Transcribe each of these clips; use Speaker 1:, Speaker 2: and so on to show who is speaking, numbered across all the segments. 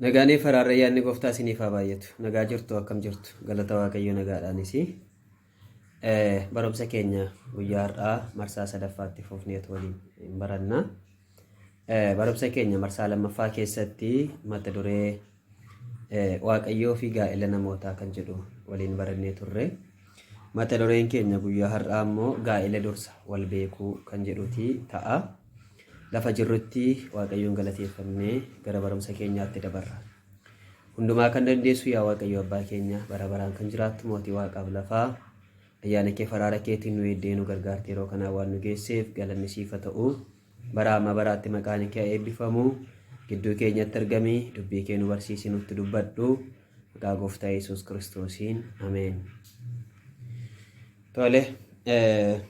Speaker 1: Nagaanii faraarra yaadni gooftaa isiniif haa baay'atu. Nagaa jirtu akkam jirtu galata waaqayyo nagaadhaanis. Barumsa keenya guyyaa har'aa marsaa sadaffaatti fufneet waliin hin baranna. Barumsa keenya marsaa lammaffaa keessatti mata duree Waaqayyoo fi gaa'ela namootaa kan jedhu waliin barannee turre. Mata dureen keenya guyyaa har'aa immoo gaa'ela dursa wal beekuu kan jedhuti ta'a. Lafa jirrutti Waaqayyoon galateeffannee gara barumsa keenyaatti dabarra. Hundumaa kan dandeessu yaa Waaqayyo abbaa keenya bara baraan kan jiraattu mootii waaqaaf lafaa ayyaana kee faraara keetiin nu eeddee nu gargaarte yeroo kanaa waan nu geesseef galanni siif haa ta'u. Baraa amma baraatti maqaani kee haa eebbifamu. Gidduu keenyatti argami, dubbii kee nu barsiisi, nutti dubbadhu. Maqaa gooftaa Yesuus Kiristoosiin. Ameen. Tole. eh,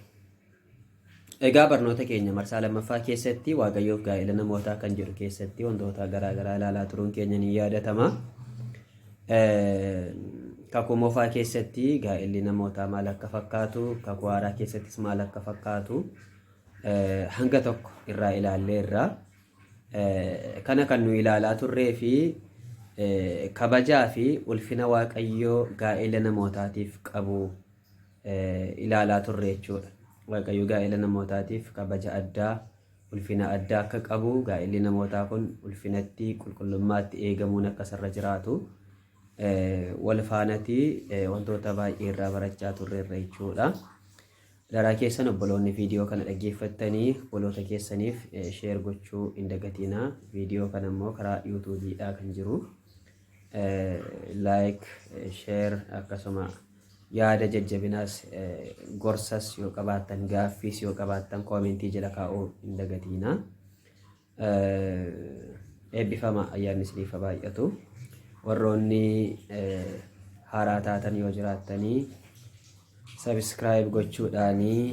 Speaker 1: Egaa barnoota keenya marsaa lammaffaa keessatti Waaqayyoof gaa'ela namootaa kan jedhu keessatti wantoota garaa garaa ilaalaa turuun keenya ni yaadatama. Eh, Kakuu moofaa keessatti gaa'elli namootaa maal akka fakkaatu, kakuu haaraa keessattis maal akka fakkaatu hanga tokko irraa ilaalleerra. Kana kan nu ilaalaa turree fi kabajaa fi ulfina Waaqayyoo gaa'ela namootaatiif qabu ilaalaa turre jechuudha. Waaqayyo gaa'ela namootaatiif kabaja addaa, ulfina addaa akka qabu, gaa'elli namootaa kun ulfinatti, qulqullummaatti eegamuun akka isarra jiraatu wal faanatii wantoota baay'ee irraa barachaa turreerra jechuudha. Adaraa keessan obboloonni viidiyoo kana dhaggeeffattanii obboloota keessaniif sheer gochuu hin dagatiina. Viidiyoo kana immoo karaa yuutuubiidhaa kan jiru laayik, sheer akkasuma yaada jajjabinaas gorsas yoo qabaattan gaaffiis yoo qabaattan koomentii jala kaa'uu hin dagatiina. Eebbifamaa ayyaanni isiniif haa baay'atu. Warroonni haaraa taatan yoo jiraattanii subscribe gochuudhaanii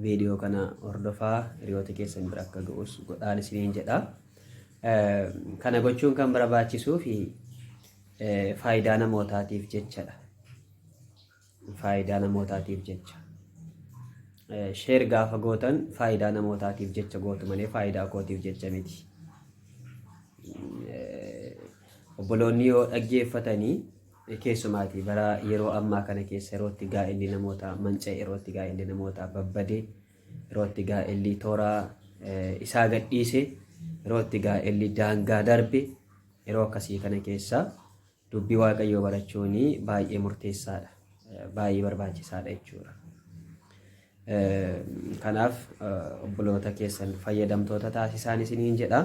Speaker 1: viidiyoo kana hordofaa hiriyoota keessan bira akka ga'us godhaan isiniin jedha. Kana gochuun kan barbaachisuu fi faayidaa namootaatiif jechadha. faayidaa namootaatiif jecha sheer gaafa gootan faayidaa namootaatiif jecha gootu malee faayidaa kootiif jecha miti. Obboloonni yoo dhaggeeffatanii keessumaati bara yeroo ammaa kana keessa yerootti gaa'elli namootaa manca'e yerootti gaa'elli namootaa babbade yerootti gaa'elli toora isaa gadhiise yerootti gaa'elli daangaa darbe yeroo akkasii kana keessa Dubbii Waaqayyoo barachuun baay'ee murteessaadha. Baay'ee barbaachisaadha jechuudha. Kanaaf obboloota keessan fayyadamtoota taasisaan isiniin jedha.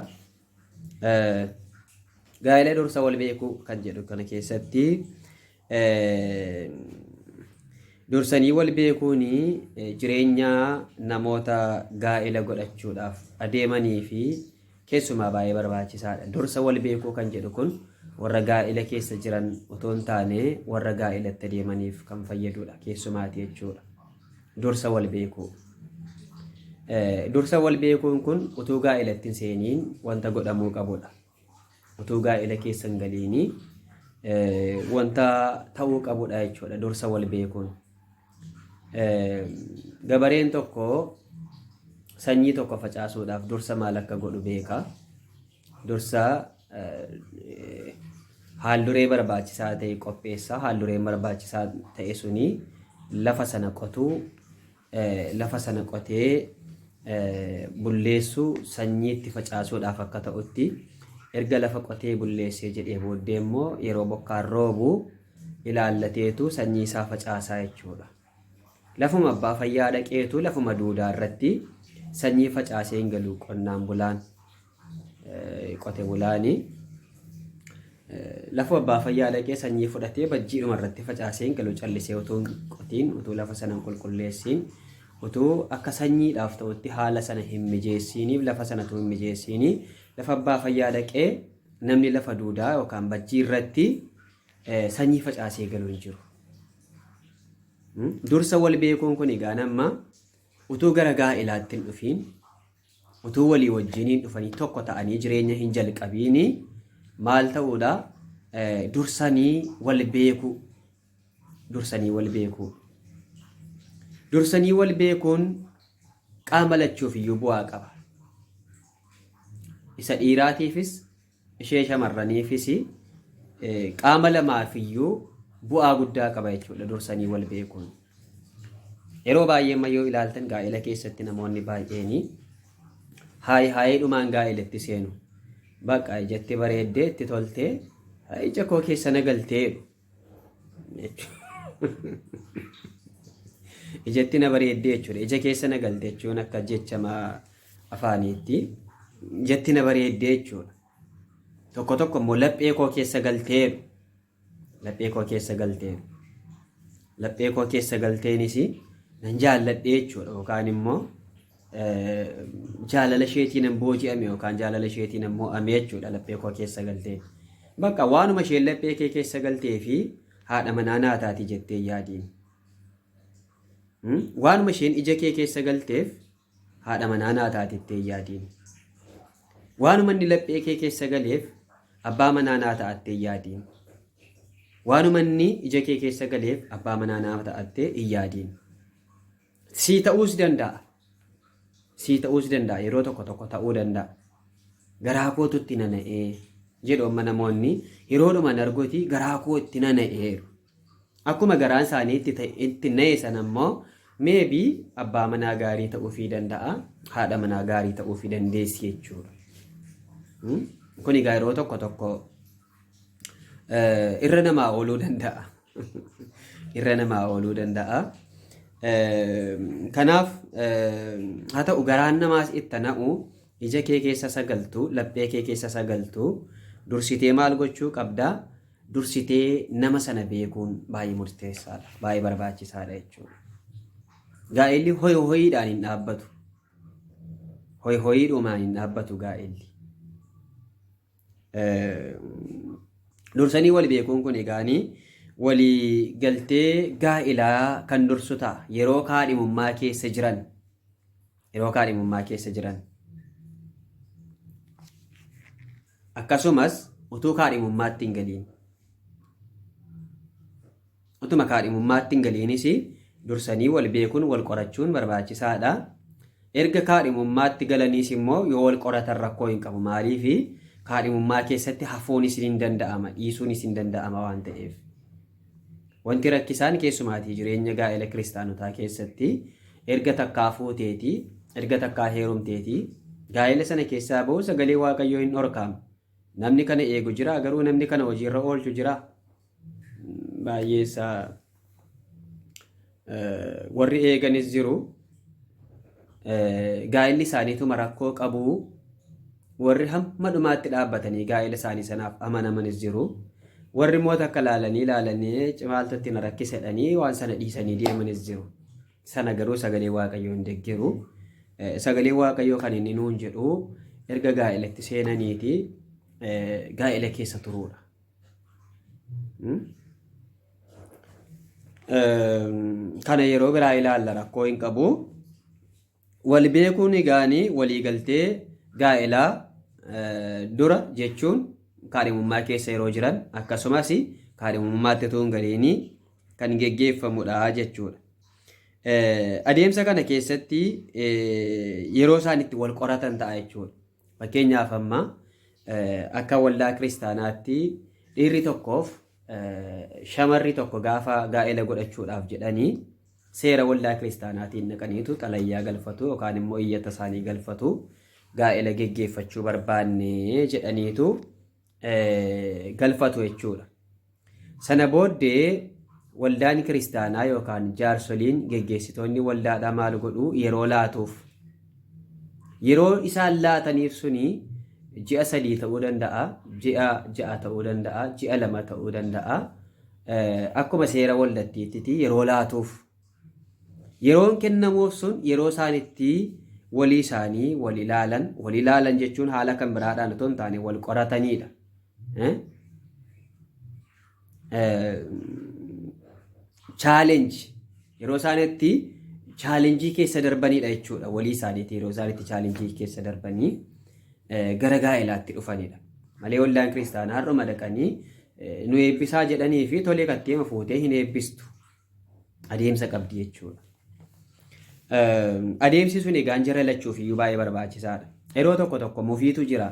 Speaker 1: Gaa'ela dursa wal beekuu kan jedhu kana keessatti dursanii wal beekuun jireenya namoota gaa'ela godhachuudhaaf adeemanii fi keessumaa baay'ee barbaachisaadha. Dursa wal beekuu kan jedhu kun warra gaa'ila keessa jiran otoo hin taane warra gaa'ilatti deemaniif kan fayyadudha. Keessumaati jechuudha. Dursa wal beekuu. Dursa wal beekuun kun utuu gaa'ilatti hin seeniin wanta godhamuu qabudha. Utuu gaa'ela keessa hin galiin wanta ta'uu qabudha jechuudha dursa wal beekuun. Gabareen tokko sanyii tokko facaasuudhaaf dursa maal akka godhu beeka. Dursa haalduree barbaachisaa ta'e qopheessa. Haaldureen barbaachisaa ta'e suni lafa sana qotuu, lafa sana qotee bulleessu sanyiitti facaasuudhaaf akka ta'utti erga lafa qotee bulleessee jedhee booddee immoo yeroo bokkaan roobu ilaallateetu sanyii isaa facaasaa jechuudha. Lafuma abbaa fayyaa dhaqeetu lafuma duudaa irratti sanyii facaasee hin galu qonnaan bulaan. qote bulaani lafa abbaa fayyaa dhaqee sanyii fudhatee bajjiidhuma irratti facaaseen galu callisee utuu hin qotiin utuu lafa sana hin qulqulleessiin utuu akka sanyiidhaaf ta'utti haala sana hin mijeessiiniif lafa sana utuu hin mijeessiinii lafa abbaa fayyaa dhaqee namni lafa duudaa yookaan bajjii irratti eh, sanyii facaasee galu hin jiru. Hmm? Dursa wal beekuun kun egaa nama utuu gara gaa'elaatti hin dhufiin Utuu walii wajjiniin dhufanii tokko ta'anii jireenya hin jalqabiini maal ta'uudha? Dursanii wal beekuu. Dursanii wal beekuu. Dursanii wal beekuun qaama lachuuf iyyuu bu'aa qaba. Isa dhiiraatiifis ishee shamarraniifis qaama lamaafiyyuu bu'aa guddaa qaba jechuudha dursanii wal beekuun. Yeroo baay'ee amma yoo ilaaltan gaa'ela keessatti namoonni baay'een haay haayiidhumaan gaa'elatti seenu. Bakka ijatti bareeddee itti toltee ija koo keessa na galtee ijatti na bareeddee jechuudha. Ija keessa na galte jechuun akka jecha afaaniitti ijatti na bareeddee jechuudha. Tokko tokko immoo laphee koo keessa galteeru. Laphee koo keessa galteeru. Laphee koo keessa galteenis nan jaalladhee jechuudha. Yookaan immoo jaalala isheetiin hin booji'ame yookaan jaalala isheetiin hin mo'ame jechuudha laphee koo keessa galtee. Bakka waanuma isheen laphee kee keessa galtee fi haadha manaa naa taati jettee yaadiin. Waanuma isheen ija kee keessa galteef haadha manaa naa taati jettee yaadiin. Waanuma inni laphee kee keessa galeef abbaa manaa naa ta'attee yaadiin. Waanuma inni ija kee keessa galeef abbaa manaa naa ta'attee hin yaadiin. Sii ta'uus danda'a. Sii ta'uus danda'a. Yeroo tokko tokko ta'uu danda'a. Garaa kootu itti nana'ee jedhu amma namoonni yeroodhuma nargoti garaa koo itti nana'eeru. Akkuma garaan isaanii itti ta'e- itti na'e sana immoo meebi abbaa manaa gaarii ta'uufii danda'a. Haadha manaa gaarii ta'uufii dandeessi jechuudha. Hmm? Kun egaa yeroo tokko tokko Eh, irra namaa ooluu danda'a. irra namaa ooluu danda'a. Eh, Kanaaf eh, haa ta'u garaan namaas itti na'u ija kee keessa sagaltu laphee kee keessa sagaltu dursitee maal gochuu qabda dursitee nama sana beekuun baay'ee murteessaadha baay'ee barbaachisaadha jechuudha. Gaa'elli hoy hoyiidhaan hin dhaabbatu. Hoy hoyiidhumaan hin dhaabbatu gaa'elli. Dursanii wal beekuun kun egaanii walii galtee gaa'ilaa kan dursu ta'a yeroo kaadhimummaa keessa jiran yeroo kaadhimummaa keessa jiran akkasumas utuu kaadhimummaatti hin galiin Utuma kaadhimummaatti hin galiinis dursanii wal beekuun wal qorachuun barbaachisaadha. Erga kaadhimummaatti galaniis immoo yoo wal qoratan rakkoo hin qabu. Maaliif kaadhimummaa keessatti hafuunis ni danda'ama, dhiisuunis ni danda'ama waan ta'eef. Wanti rakkisaan keessumaatii jireenya gaa'ela kiristaanotaa keessatti erga takkaa fuuteetii, erga takkaa heerumteetii, gaa'ela sana keessaa ba'uu sagalee Waaqayyoo hin dhorkaama. Namni kana eegu jira garuu namni kana hojiirra oolchu jira. baay'ee isaa warri eeganis jiru gaa'illi isaaniituma rakkoo qabu warri hamma dhumaatti dhaabbatanii gaa'ila isaanii sanaaf amanamanis jiru warri immoo takka laalanii laalanii cimaaltu itti na rakkisedhanii waan sana dhiisanii deemanis jiru sana garuu sagalee waaqayyoo hin deggeru sagalee waaqayyoo kan inni nuun jedhu erga gaa'ilatti seenaniiti gaa'ila keessa turuudha Kana yeroo biraa ilaalla rakkoo hin qabu. Wal beekuun egaanii waliigaltee gaa'elaa dura jechuun kaadhimummaa keessa yeroo jiran akkasumas kaadhimummaatti utuu hin galiinii kan geggeeffamudha jechuudha. Adeemsa kana keessatti yeroo isaan itti wal qoratan ta'a jechuudha. Fakkeenyaaf amma akka waldaa kiristaanaatti dhiirri tokkoof shamarri tokko gaafa gaa'ela godhachuudhaaf jedhanii seera waldaa kiristaanaatiin naqaniitu xalayyaa galfatu yookaan immoo iyyata isaanii galfatu gaa'ela geggeeffachuu barbaanne jedhaniitu galfatu jechuudha. Sana booddee waldaan kiristaanaa yookaan jaarsoliin geggeessitoonni waldaadhaa maal godhu yeroo laatuuf. Yeroo isaan laataniif suni ji'a sadii ta'uu danda'a, ji'a ja'a ta'uu danda'a, ji'a lama ta'uu danda'a. Akkuma seera waldattiitti yeroo laatuuf Yeroon kennamuuf sun yeroo isaan itti walii isaanii wal ilaalan, wal ilaalan jechuun haala kan biraadhaan otoo hin taane wal qorataniidha. Chaalenji yeroo isaan itti chaalenjii keessa darbaniidha jechuudha. Walii isaaniitii yeroo isaan itti chaalenjii keessa darbanii gara gaa'elaatti dhufanidha. Malee waldaan kiristaanaa har'uma dhaqanii nu eebbisaa jedhanii fi tolee katteema fuutee hin eebbistu. adeemsa qabdi jechuudha. Adeemsi sun egaa jara lachuuf iyyuu baay'ee barbaachisaadha. Yeroo tokko tokko mufiitu jira.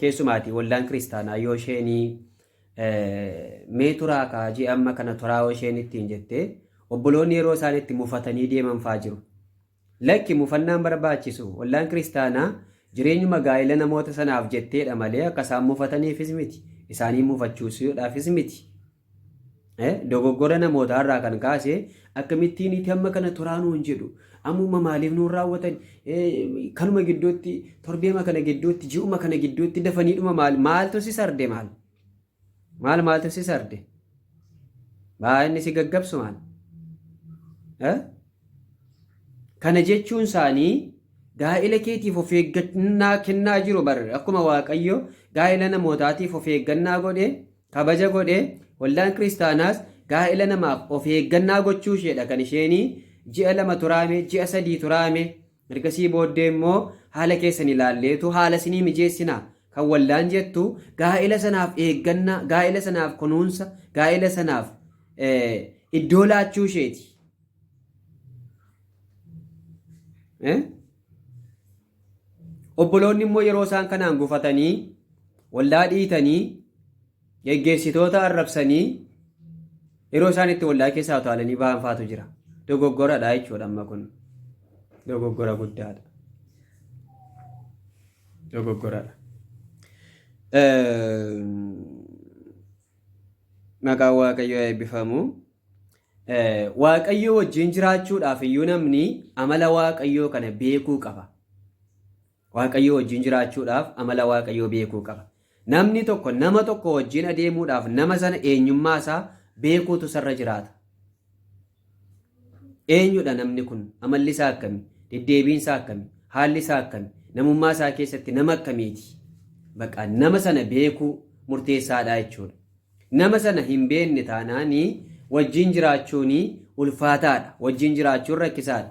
Speaker 1: Keessumaati waldaan kiristaanaa yoo isheen mee turaa kaajii amma kana turaa yoo isheen ittiin jettee obboloonni yeroo isaan itti mufatanii deeman fa'aa jiru. Lakki, mufannaan barbaachisu. Ollaan kiristaanaa jireenyuma gaa'ila namoota sanaaf jetteedha malee akka isaan mufataniifis miti. Isaaniin mufachuusuudhaafis miti. Dogoggora namootaa irraa kan kaase akkamittiin itti amma kana turaa nuun jedhu ammuma maaliif nuun raawwatan kanuma gidduutti torbeema kana gidduutti ji'uma kana gidduutti dafaniidhuma maal maaltu si sarde maal Maal maaltu si sarde? Baa inni si gaggabsu maal? Eh? Kana jechuun isaanii gaa'ila keetiif of eeggannaa kennaa jiru bar akkuma Waaqayyo gaa'ila namootaatiif of eeggannaa godhe kabaja godhe waldaan kiristaanaas gaa'ila namaaf of eeggannaa gochuu isheedha kan isheenii ji'a lama turaame ji'a sadii turaame Ergasii booddee immoo haala keessan ilaalleetu haala isinii mijeessina. Kan waldaan jettu gaa'ela sanaaf eegganna, gaa'ela sanaaf kunuunsa, gaa'ela sanaaf iddoo laachuu isheeti. Obboloonni immoo yeroo isaan kanaan gufatanii waldaa dhiitanii Geggeessitoota arrabsanii yeroo isaan itti waldaa keessaa utaalanii ba'an faatu jira. Dogoggoradha jechuudha amma kun. Dogoggora guddaadha. Dogoggoradha. Maqaan Waaqayyoo eebbifamu. Waaqayyoo wajjin jiraachuudhaaf iyyuu namni amala Waaqayyoo kana beekuu qaba. Waaqayyoo wajjin jiraachuudhaaf amala Waaqayyoo beekuu qaba. Namni tokko nama tokko wajjin adeemuudhaaf nama sana eenyummaa isaa beekuutu isarra jiraata. Eenyudha namni kun? Amalli isaa akkami? Deddeebiin isaa akkami? Haalli isaa akkami? Namummaa isaa keessatti nama akkamiiti? Baqa nama sana beekuu murteessaadha jechuudha. Nama sana hin beekne taanaanii wajjin jiraachuun ulfaataadha. Wajjin jiraachuun rakkisaadha.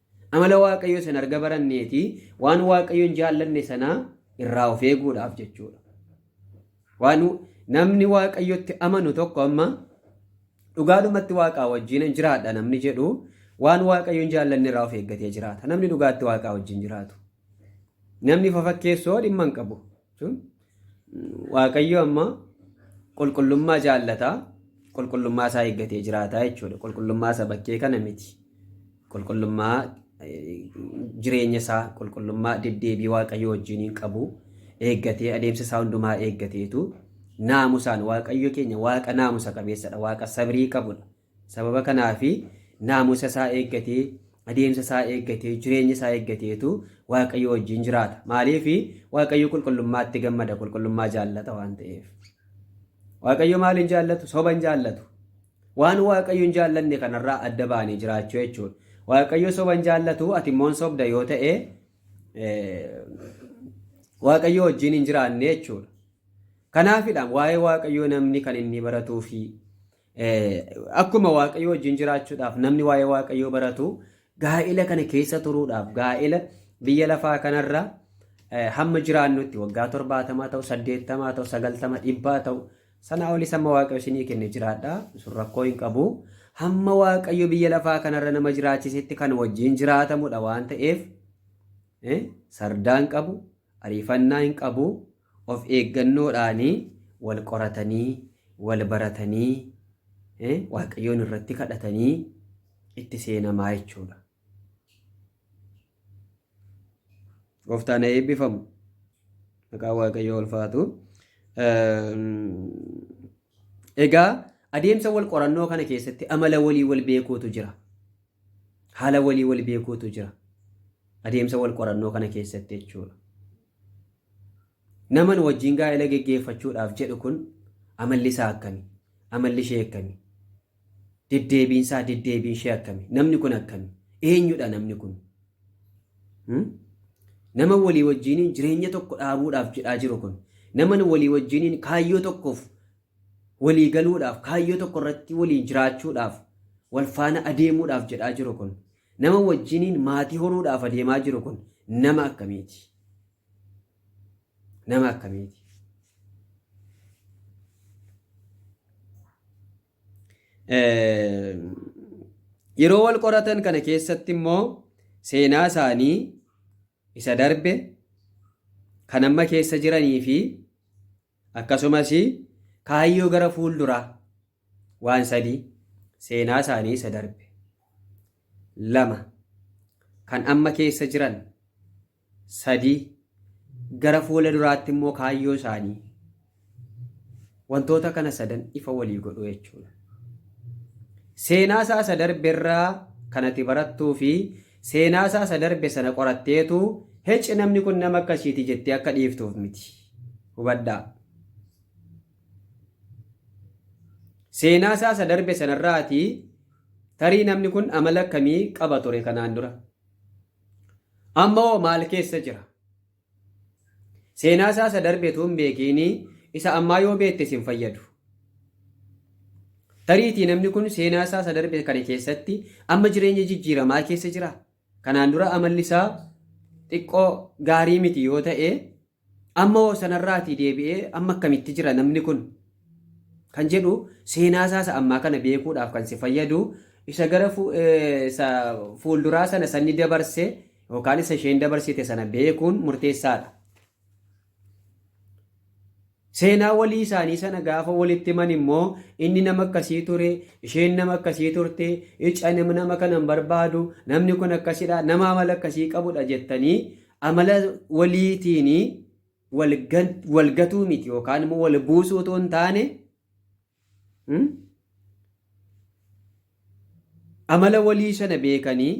Speaker 1: Amala Waaqayyoo sana erga baranneeti waan Waaqayyo hin jaallanne sana irraa of eeguudhaaf jechuudha. Waan namni Waaqayyotti amanu tokko amma dhugaadhumatti Waaqaa wajjin hin jiraadha namni jedhu waan Waaqayyo hin jaallanne irraa of eeggatee jiraata. Namni dhugaatti Waaqaa wajjin jiraatu. Namni fafakkeessoo dhimma hin qabu. Waaqayyo amma qulqullummaa jaallata. Qulqullummaa isaa eeggatee jiraata jechuudha. Qulqullummaa isa bakkee kana miti. Qulqullummaa jireenya isaa, qulqullummaa deddeebii Waaqayyo wajjin hin qabu. Eeggatee adeemsa isaa hundumaa eeggateetu naamusaan Waaqayyo keenya Waaqa naamusa qabeessadha. Waaqa sabrii qabudha. Sababa kanaaf naamusa isaa eeggatee, adeemsa isaa eeggatee, jireenya isaa eeggateetu Waaqayyo wajjin jiraata. Maaliif? Waaqayyo qulqullummaatti gammada, qulqullummaa jaallata waan ta'eef. Waaqayyo maal hin jaallatu? Soba hin jaallatu. Waan Waaqayyo hin jaallanne kanarraa adda ba'anii jiraachuu jechuudha. Waaqayyo soba hin jaallatu, ati immoo hin sobda yoo ta'e Waaqayyo wajjin hin jiraanne jechuudha. Kanaafidha waa'ee Waaqayyoo namni kan inni baratuu fi Akkuma Waaqayyoo wajjin jiraachuudhaaf namni waa'ee Waaqayyoo baratu gaa'ela kana keessa turuudhaaf gaa'ela biyya lafaa kanarra hamma jiraannutti waggaa torbaatamaa ta'u saddeettamaa ta'u sagaltama dhibbaa ta'u sanaa olis hamma Waaqayyo isinii kenne jiraadha sun rakkoo hin qabu hamma Waaqayyo biyya lafaa kanarra nama jiraachisetti kan wajjin jiraatamudha waan ta'eef sardaan qabu Ariifannaa hin qabu, of eeggannoodhaan wal qoratanii, wal baratanii, Waaqayyoon irratti kadhatanii itti seenamaa jechuudha. Gooftaan haa eebbifamu. Maqaan Waaqayyoo ulfaatu. Egaa adeemsa wal qorannoo kana keessatti amala walii wal beekuutu jira. Haala walii wal beekuutu jira. Adeemsa wal qorannoo kana keessatti jechuudha. Nama nu wajjin gaa'ela geggeeffachuudhaaf jedhu kun amalli isaa akkami? Amalli ishee akkami? Deddeebiin isaa deddeebiin ishee akkami? Namni kun akkami? Eenyudha namni kun? Nama walii wajjiniin jireenya tokko dhaabuudhaaf jedhaa jiru kun nama walii wajjiniin kaayyoo tokkoof walii galuudhaaf, kaayyoo tokko irratti waliin jiraachuudhaaf, wal faana adeemuudhaaf jedhaa jiru kun, nama wajjiniin maatii horuudhaaf adeemaa jiru kun nama akkamiiti? Nama akkamiiti? Yeroo wal qoratan kana keessatti immoo seenaa isaanii isa darbe kan amma keessa jiranii fi Akkasumas kaayyoo gara fuulduraa waan sadii seenaa isaanii isa darbe lama kan amma keessa jiran sadii gara fuula duraatti immoo kaayyoo isaanii wantoota kana sadan ifa walii godhu jechuudha. Seenaa isaa isa darbe irraa kan ati barattuu fi seenaa isaa isa darbe sana qoratteetu hecci namni kun nama akkasiiti jettee akka dhiiftuuf miti. hubadhaa. Seenaa isaa isa darbe sanarraati tarii namni kun amala akkamii qaba ture kanaan dura. Amma hoo maal keessa jira? Seenaa isaa isa darbe utuu hin beekiin isa ammaa yoo beekte sin fayyadu. Tariitii namni kun seenaa isaa isa darbe kana keessatti amma jireenya jijjiiramaa keessa jira. Kanaan dura amalli isaa xiqqoo gaarii miti yoo ta'e amma hoo sanarraatii deebi'ee amma akkamitti jira namni kun kan jedhu seenaa isaa isa ammaa kana beekuudhaaf kan si fayyadu isa gara fu- eh, isa fuulduraa sana sanni dabarse yookaan isa isheen dabarsite sana beekuun murteessaadha. Seenaa walii isaanii sana gaafa walitti himan immoo inni nama akkasii ture, isheen nama akkasii turte, ic ani nama kana hin barbaadu, namni kun akkasidha, nama amala akkasii qabudha jettanii amala waliitiin wal gatuu miti yookaan immoo wal buusuu otoo hin taane Amala walii sana beekanii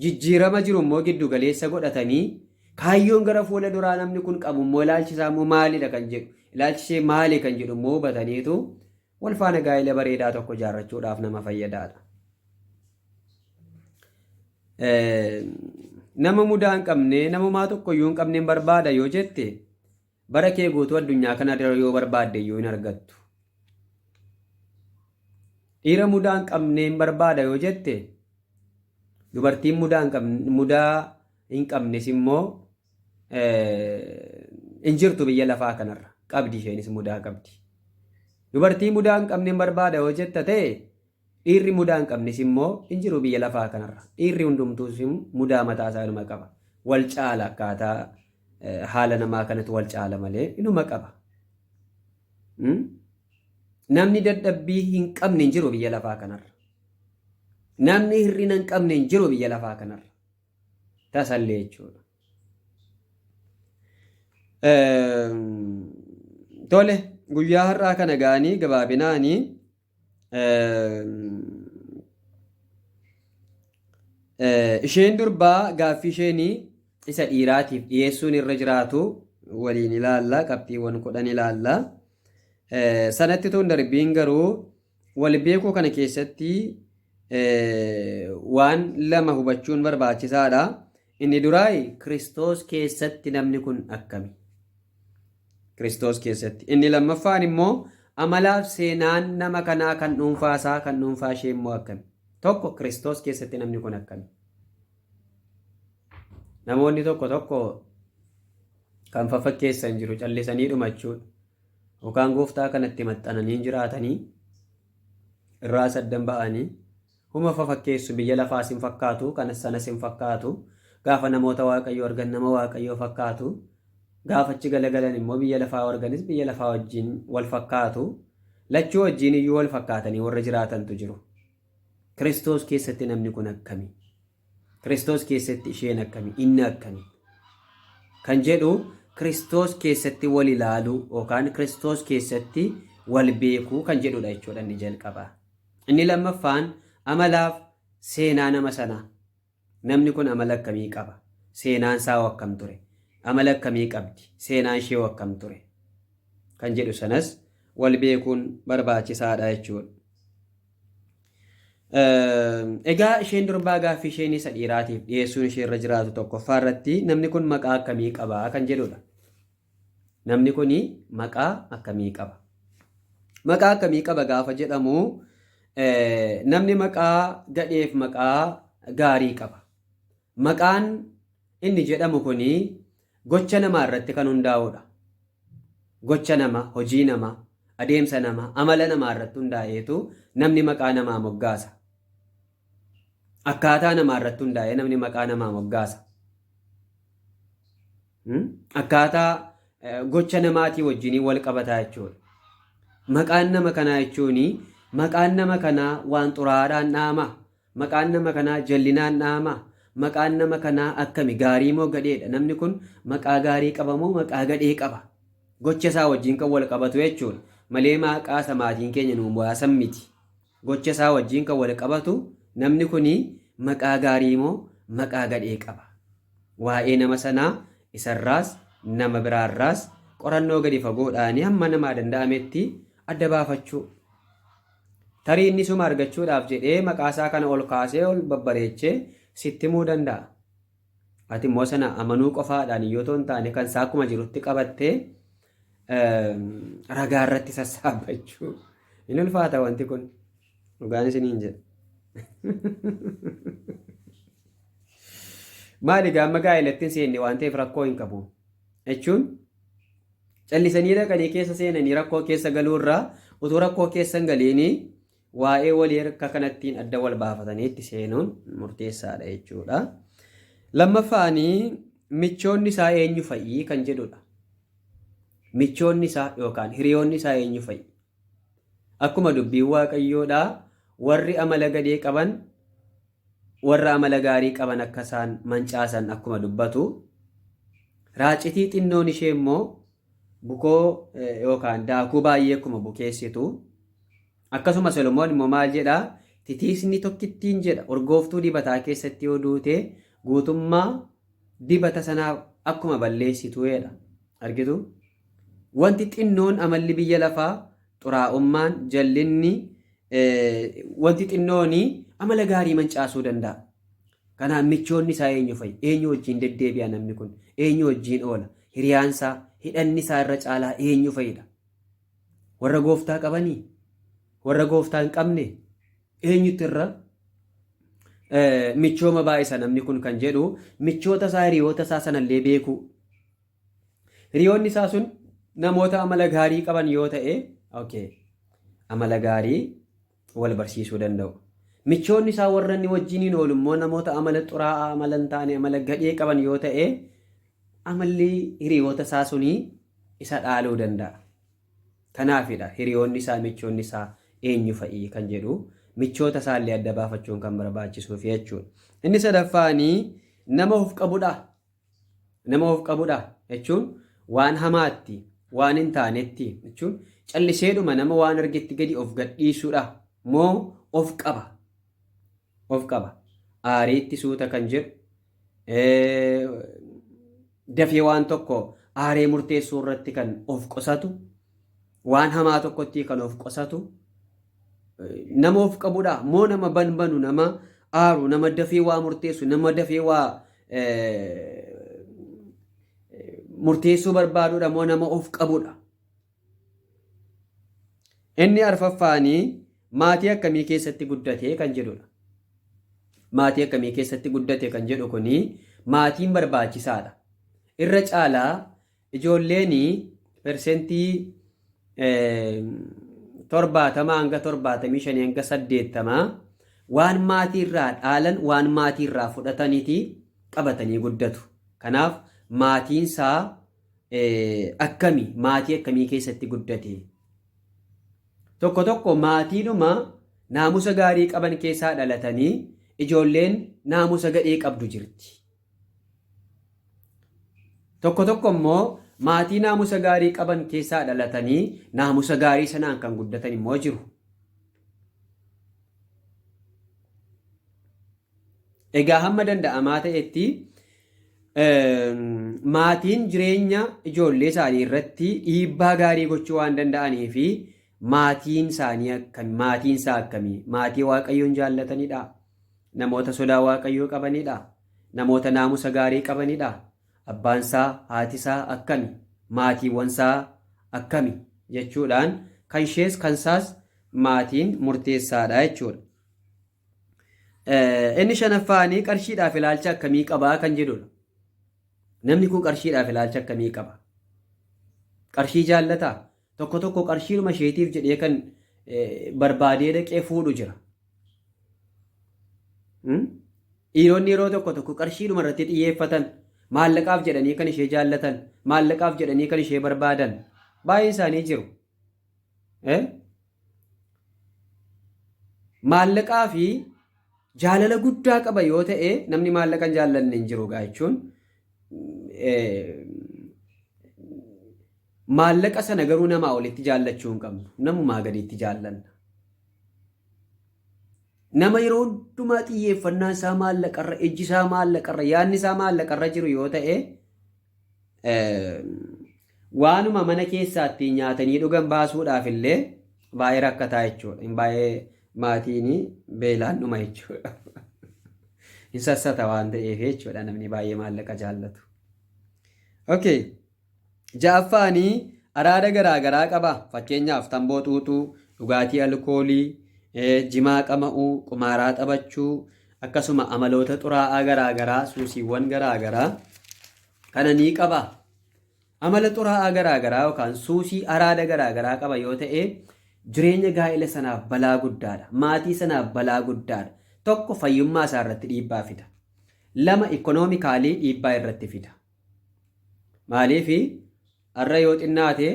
Speaker 1: jijjiirama jiru immoo giddu galeessa godhatanii kaayyoon gara fuula duraa namni kun qabu immoo ilaalchi isaa immoo maalidha kan jedhu ilaalchi ishee maali kan jedhu immoo hubataniitu wal faana gaa'ila bareedaa tokko ijaarrachuudhaaf nama fayyadaadha. Nama mudaa hin qabne namumaa tokkoyyuu hin qabne barbaada yoo jette Bara kee guutuu addunyaa kana irra yoo barbaadde iyyuu hin argattu. Dhiira mudaa hin qabneen barbaada yoo jette, dubartiin mudaa hin qabne- mudaa hin qabnes immoo eh, hin jirtu biyya lafaa kanarra. Qabdi isheenis mudaa qabdi. Dubartii mudaa hin qabneen barbaada yoo jetta ta'e, Dhiirri mudaa hin qabnes immoo hin jiru biyya lafaa kanarra. Dhiirri hundumtuus mudaa mataa isaa inuma qaba. Wal caala akkaataa haala namaa kanatu wal caala malee inuma qaba. Namni dadhabbii hin qabne hin jiru biyya lafaa kanarra. Namni hir'ina hin qabne hin jiru biyya lafaa kanarra. Tasallee jechuudha. Tole guyyaa har'aa kana ga'anii gabaabinaanii Isheen durbaa gaaffii isheen isa dhiiraatiif dhiyeessuun irra jiraatu waliin ilaalla qabxiiwwan kudhan ilaalla. Sanatti tun darbiin garuu wal beekuu kana keessatti waan lama hubachuun barbaachisaadha. Inni duraa Kiristoos keessatti namni kun akkami? Kiristoos keessatti. Inni lammaffaan immoo amalaaf seenaan nama kanaa kan dhuunfaa isaa kan dhuunfaa ishee immoo akkami? Tokko Kiristoos keessatti namni kun akkami? Namoonni tokko tokko kan faffakkeessan jiru callisanii dhumachuudha. Yookaan gooftaa kanatti maxxananii jiraatanii irraa saddan ba'anii Huma fafakkeessu biyya lafaas hin fakkaatu kanas sanas hin fakkaatu gaafa namoota waaqayyoo argan nama waaqayyoo fakkaatu gaafa achi galagalan immoo biyya lafaa yoo arganis biyya lafaa wajjiin wal fakkaatu lachuu wajjiin iyyuu wal fakkaatanii warra jiraatantu jiru kiristoos keessatti namni kun akkami Kiristoos keessatti isheen akkami? Inni akkami? Kan jedhu Kiristoos keessatti wal ilaaluu yookaan Kiristoos keessatti wal beekuu kan jedhudha jechuudha inni jalqaba. Inni lammaffaan amalaaf seenaa nama sanaa. Namni kun amala akkamii qaba? Seenaan isaa hoo akkam ture? Amala akkamii qabdi? Seenaan ishee hoo akkam ture? Kan jedhu sanas wal beekuun barbaachisaadha jechuudha. Egaa isheen durbaa gaaffii isheen isa dhiiraatiif dhiyeessuun ishee irra jiraatu tokkoffaa irratti namni kun maqaa akkamii qaba kan jedhudha. Namni kun maqaa akkamii qaba? Maqaa akkamii qaba gaafa jedhamu namni maqaa gadheef maqaa gaarii qaba. Maqaan inni jedhamu kun Gocha namaa irratti kan hundaa'uu dha. Gocha namaa, hojii namaa, adeemsa namaa, amala namaa irratti hundaa'eetu namni maqaa namaa moggaasa. Akkaataa namaa irratti hundaa'ee namni maqaa namaa moggaasa. Hmm? Akkaataa eh, gocha namaatii wajjinii wal qabataa jechuudha. Maqaan nama kanaa jechuun maqaan nama kanaa waan xuraa'aadhaan dha'ama. Maqaan nama kanaa jallinaan dha'amaa? Maqaan nama kanaa akkami? Gaarii moo gadheedha? Namni kun maqaa gaarii qaba moo maqaa gadhee qaba? Gocha isaa wajjin kan wal qabatu jechuudha. Malee maqaa isa maatiin keenya nuu baasan miti. Gocha isaa wajjin kan wal qabatu namni kun maqaa gaarii moo maqaa gadhee qaba? Waa'ee nama sanaa isarraas nama biraarraas qorannoo gadi fagoodhaan hamma namaa danda'ametti adda baafachuu. Tarii inni suma argachuudhaaf jedhee maqaasaa kana ol kaasee ol babbareechee sitti himuu danda'a. Ati immoo sana amanuu qofaadhaan yoo ta'u hin taane kan isaa akkuma jirutti qabattee ragaa irratti sassaabbachuu. Hin ulfaata wanti kun dhugaan isiniin jedha. Maali gaamma gaa'elatti hin seenne waan ta'eef rakkoo hin qabu jechuun Callisanii dhaqanii keessa seenanii rakkoo keessa galuu irra utuu rakkoo keessa hin galiin waa'ee walii harka kanattiin adda wal baafatanii itti seenuun murteessaadha jechuudha. Lammaffaan michoonni isaa eenyu fa'i kan jedhudha. Michoonni isaa yookaan hiriyoonni isaa eenyu fa'i? Akkuma dubbiin waaqayyoodhaa warri amala gadee qaban warra amala gaarii qaban akka isaan mancaasan akkuma dubbatu raacitii xinnoon ishee immoo bukoo yookaan daakuu baay'ee akkuma bukeessitu akkasuma solomoon immoo maal jedhaa titiisni tokkittiin jedha urgooftuu dibataa keessatti yoo duute guutummaa dibata sanaa akkuma balleessitu jedha argitu wanti xinnoon amalli biyya lafaa xuraa'ummaan jallinni Wanti xinnoon amala gaarii mancaasuu danda'a. Kanaaf michoonni isaa eenyu fa'i? Eenyu wajjin deddeebi'a namni kun? Eenyu wajjin oola? Hiriyaan isaa, hidhanni isaa irra caalaa eenyu fa'idha? Warra gooftaa qabanii? Warra gooftaa hin qabne? Eenyutti irra michooma baay'isa namni kun kan jedhu michoota isaa hiriyoota isaa sanallee beekuu. Hiriyoonni isaa sun namoota amala gaarii qaban yoo ta'e, okay, amala gaarii wal barsiisuu danda'u. Michoonni isaa warra inni wajjiniin oolu immoo namoota amala xuraa'aa, amala hin taane, amala gadhee qaban yoo ta'e, amalli hiriyoota isaa sunii isa dhaaluu danda'a. Kanaafidha hiriyoonni isaa, michoonni isaa eenyu fa'i kan jedhu michoota isaa illee adda baafachuun kan barbaachisuuf jechuudha. Inni sadaffaanii nama of qabudha. Nama of qabudha jechuun waan hamaatti, waan hin taanetti jechuun calliseedhuma nama waan argetti gadi of gadhiisuudha moo of qaba? Of qaba. Aariitti suuta kan jedhu dafee waan tokko aaree murteessuu irratti kan of qusatu Waan hamaa tokkottii kan of qosatu nama of qabudha moo nama banbanu nama aaru nama dafee waa murteessu nama dafee waa murteessuu barbaadudha moo nama of qabudha. Inni arfaffaanii maatii akkamii keessatti guddate kan jedhudha. Maatii akkamii keessatti guddate kan jedhu kuni maatiin barbaachisaadha. Irra caalaa Ijoolleen persentii 70 hanga 75 hanga 80 waan maatii irraa dhaalan waan maatii irraa fudhataniti qabatanii guddatu. Kanaaf maatiin isaa akkami maatii akkamii keessatti guddate? Tokko tokko maatiidhuma naamusa gaarii qaban keessaa dhalatanii ijoolleen naamusa gadhee qabdu jirti. Tokko tokko immoo maatii naamusa gaarii qaban keessaa dhalatanii naamusa gaarii sanaan kan guddatan immoo jiru. Egaa hamma danda'amaa ta'etti maatiin jireenya ijoollee isaanii irratti dhiibbaa gaarii gochuu waan danda'anii fi maatiin isaanii akkamii maatiin isaa akkamii maatii waaqayyoon jaallatanidha Namoota sodaa Waaqayyoo qabanii dha. Namoota naamusa gaarii qabanii dha. Abbaan isaa, haati isaa akkami? Maatiiwwan isaa akkami? jechuudhaan kan ishees kan isaas maatiin murteessaa dha jechuudha. Inni shanaffaanii qarshiidhaaf ilaalcha akkamii qabaa kan jedhudha. Namni kun qarshiidhaaf ilaalcha akkamii qaba? Qarshii jaallataa? Tokko tokko qarshiidhuma isheetiif jedhee kan barbaadee dhaqee fuudhu jira. Dhiironni yeroo tokko tokko qarshiidhuma irratti xiyyeeffatan maallaqaaf jedhanii kan ishee jaallatan maallaqaaf jedhanii kan ishee barbaadan baay'een isaanii jiru. Maallaqaa fi jaalala guddaa qaba yoo ta'e namni maallaqan jaallanne hin jiru jechuun Maallaqa sana garuu namaa olitti jaallachuu hin qabnu. Namumaa gadiitti jaallanna. Nama yeroo hundumaa xiyyeeffannaan isaa maallaqarra, ejji isaa maallaqarra, yaadni isaa maallaqarra jiru yoo ta'e Waanuma mana keessaattii nyaatanii dhugan baasuudhaaf illee baay'ee rakkataa jechuudha. Hin baay'ee maatiin beelaan dhuma jechuudha. Hin sassata waan ta'eef jechuudha namni baay'ee maallaqa jaallatu. Okay. Ja'affaanii araada garaa garaa qaba. Fakkeenyaaf tamboo xuuxuu, dhugaatii alkoolii, jimaa qama'uu, qumaaraa taphachuu, akkasuma amaloota xuraa'aa garaa garaa, suusiiwwan garaa garaa kana ni qaba. Amala xuraa'aa garaa garaa yookaan suusii araada garaa garaa qaba yoo ta'e jireenya gaa'ila sanaaf balaa guddaadha. Maatii sanaaf balaa guddaadha. Tokko fayyummaa isaa irratti dhiibbaa fida. Lama ikkonoomikaalii dhiibbaa irratti fida. Maaliif har'a yoo xinnaate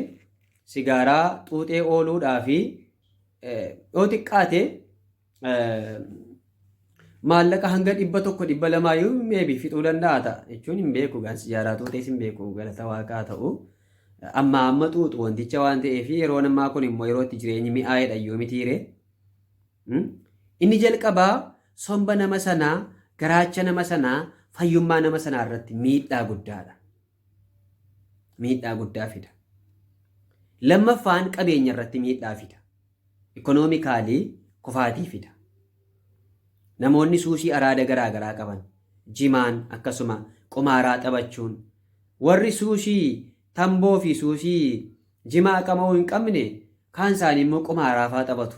Speaker 1: sigaaraa xuuxee ooluudhaa fi yoo xiqqaate maallaqa hanga dhibba tokko dhibba lamaa yoo meebi fixuu danda'a ta'a jechuun hin beeku gaan sijaaraa tuutees hin beeku galata waaqaa ta'u amma amma xuuxu wanticha waan ta'eef yeroo ammaa kun immoo yeroo itti jireenyi mi'aa'edha yoo mitiire inni jalqabaa somba nama sanaa garaacha nama sanaa fayyummaa nama sanaa irratti miidhaa guddaadha miidhaa guddaa fida. Lammaffaan qabeenya irratti miidhaa fida. Ikoonoomikaalii kufaatii fida. Namoonni suusii araada garaa garaa qaban jimaan akkasuma qumaaraa taphachuun warri suusii tamboo fi suusii jimaa qama'uu hin qabne kaan isaanii immoo qumaaraa faa taphatu.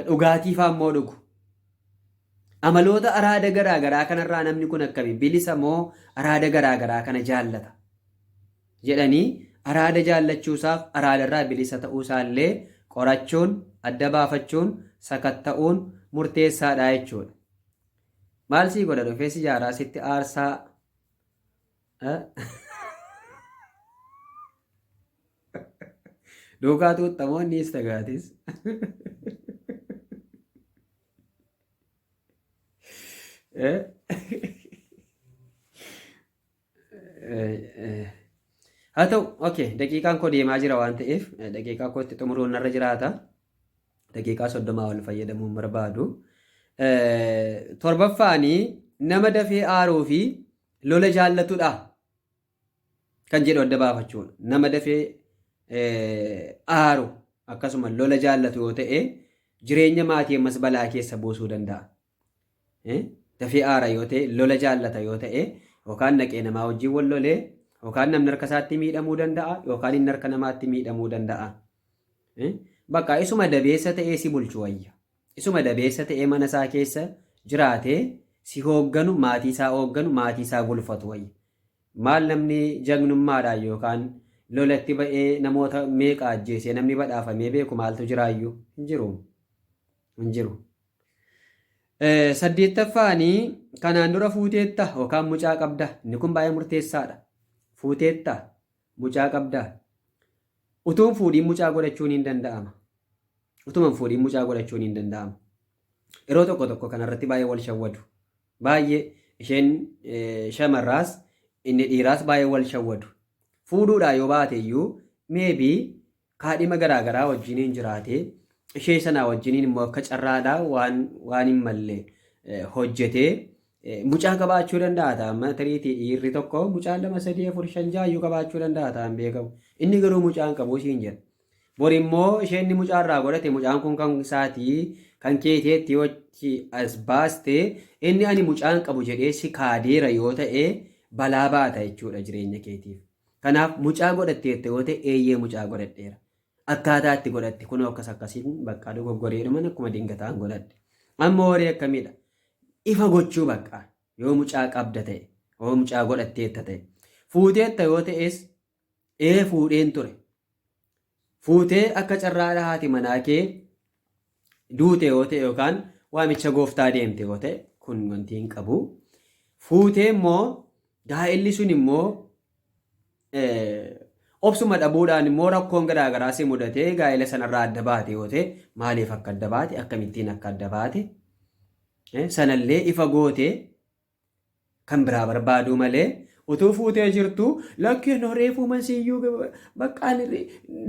Speaker 1: Dhugaatii faa immoo dhugu. Amaloota araada garaa garaa kanarraa namni kun akkami? Bilisa moo araada garaa garaa kana jaallata? jedhanii araada jaallachuusaaf araadarraa bilisa ta'uusaallee qorachuun, adda baafachuun, sakatta'uun murteessaadha jechuudha. Maal sii godha dhufee sijaaraa sitti aarsaa duukaa tuuttamoonnis tagaatis. haa ta'u okay daqiiqaan koo deemaa jira waan ta'eef daqiiqaa kootti xumuruun narra jiraata daqiiqaa soddomaa wal fayyadamuun barbaadu torbaffaanii nama dafee aaruu fi lola jaallatudha kan jedhu adda baafachuun nama dafee aaru akkasuma lola jaallatu yoo ta'e jireenya maatii ammas balaa keessa buusuu danda'a. Dafee aara yoo ta'e lola jaallata yoo ta'e yookaan naqee namaa wajjin wal lolee yookaan namni harka isaatti miidhamuu danda'a yookaan inni harka namaatti miidhamuu danda'a. Bakka isuma dabeessa ta'ee si bulchu wayya. Isuma dabeessa ta'ee mana isaa keessa jiraatee si hoogganu, maatii isaa hoogganu, maatii isaa bulfatu wayya. Maal namni jagnummaadhaan yookaan lolatti ba'ee namoota meeqa ajjeesee namni badhaafamee beeku maaltu jiraayyuu? Hin jiru. Hin jiru. Saddeettaffaani kanaan dura fuuteetta yookaan mucaa qabda. Inni kun baay'ee murteessaadha. Fuuteetta. Mucaa qabdaa? Utuu hin fuudhiin mucaa godhachuun hin danda'ama. Utuma hin fuudhiin mucaa godhachuun hin danda'ama. Yeroo tokko tokko kanarratti baay'ee wal shawwadu. Baay'ee isheen eh, shamarraas inni dhiiraas baay'ee wal shawwadu. Fuudhuudhaa yoo baate iyyuu meebii Kaadhima garaa garaa wajjiniin jiraatee, ishee sanaa wajjiniin immoo akka carraadhaa waan waan hin malle hojjetee mucaa qabaachuu danda'a ta'a. Amma tariitii dhiirri tokko mucaan lama sadii afur shan ja'a iyyuu qabaachuu danda'a ta'an beekamu. Inni garuu mucaa hin qabu siin jedha. Bor immoo isheen inni mucaa irraa godhate mucaan kun kan isaatii kan keeteetti yoo itti as baaste inni ani mucaa hin qabu jedhee si kaadeera yoo ta'e balaa baata jechuudha jireenya keetiif. Kanaaf mucaa godhatteetta yoo ta'e eeyyee mucaa godhadheera. Akkaataa itti godhatte kunoo akkas akkasiin bakka dogoggoreedhuman akkuma dingataan godhadhe. Amma horii akkamiidha? Ifa gochuu bakka yoo mucaa qabda ta'e yoo mucaa godhatteetta ta'e. Fuuteetta yoo ta'es ee fuudheen ture. Fuutee akka carraadha haati manaa kee duute yoo ta'e yookaan waamicha gooftaa deemte yoo ta'e kun wanti hin qabu. Fuutee immoo gaa'elli sun immoo obsuma dhabuudhaan immoo rakkoon garaagaraa si mudatee gaa'ela sanarraa adda baate yoo ta'e maaliif akka adda baate akkamittiin akka adda baate sanallee ifa gootee Kan biraa barbaaduu malee utuu fuutee jirtu lakkee no reefuuman siyyuu baqqaan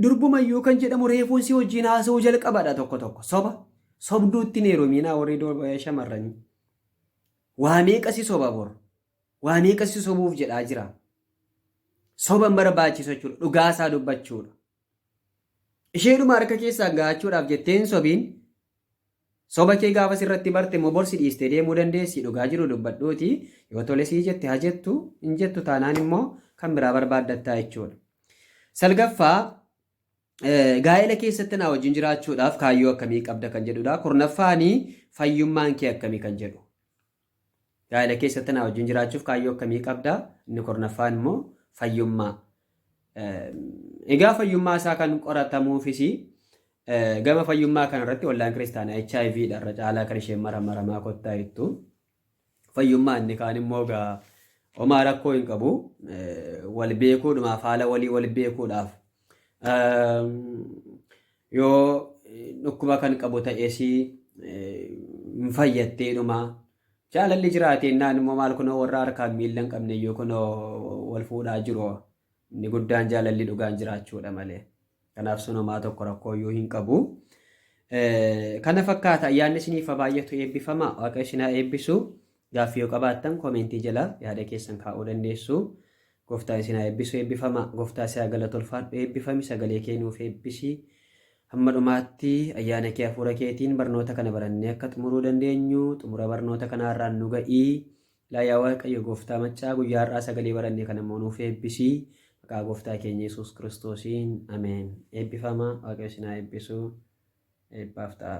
Speaker 1: durbumayyuu kan jedhamu reefuun si wajjin haasa'uu jalqabadha tokko tokko soba sobduutti hin heerumiinaa warri shamarranii waa meeqa si soba bor waa meeqa si sobuuf jedhaa jira soba hin barbaachisu jechuudha dhugaa isaa dubbachuudha isheedhuma harka keessaa gaachuudhaaf jettee hin sobiin Soba kee gaafa sirratti barte immoo bor si dhiistee deemuu dandeessi dhugaa jiru dubbadhuuti yoo tole sii jette ha jettu hin jettu taanaan immoo kan biraa barbaaddattaa jechuudha. Salgaffaa gaa'ela keessatti naa wajjin jiraachuudhaaf kaayyoo akkamii qabda kan jedhudha. Kurnaffaani fayyummaan kee akkami kan jedhu. Gaa'ela keessatti anaa wajjin jiraachuuf kaayyoo akkamii qabda? Inni kurnaffaan immoo fayyummaa. Egaa fayyummaa isaa kan qoratamuufis gama fayyummaa kanarratti wallaan kiristaanaa HIV dha irra caalaa kan isheen maramaramaa kottaa jettu. Fayyummaa inni kaan immoo egaa homaa rakkoo hin qabu. Wal beekuudhumaaf haala walii wal beekuudhaaf Yoo dhukkuba kan qabu ta'es hin fayyattee dhuma. Jaalalli jiraatee innaan immoo maal kunoo warra harkaan miila hin qabne iyyuu kunoo wal fuudhaa jiru. Inni guddaan jaalalli dhugaan jiraachuudha malee. Kanaaf sun homaa tokko rakkoo iyyuu hin qabu. Kana fakkaata ayyaanni isiniif baay'atu eebbifama waaqayyo isin haa eebbisu. Gaaffii yoo qabaattan koomeentii jala yaada keessan kaa'uu dandeessu. Gooftaan isin haa eebbisu eebbifamaa. Gooftaa si haa galatu ulfaadhu eebbifami sagalee kee nuuf eebbisi. Hamma dhumaatti ayyaana kee hafuura keetiin barnoota kana barannee akka xumuruu dandeenyu xumura barnoota kanaarraan nu ga'i. Ilaa yaa Waaqayyo gooftaa maccaa guyyaa har'aa sagalee baranne kana immoo nuuf eebbisi. Maqaa gooftaa keenya Yesuus Kiristoosiin ameen. Eebbifama Waaqayyo isin haa eebbisu. Eebbaaf ta'a.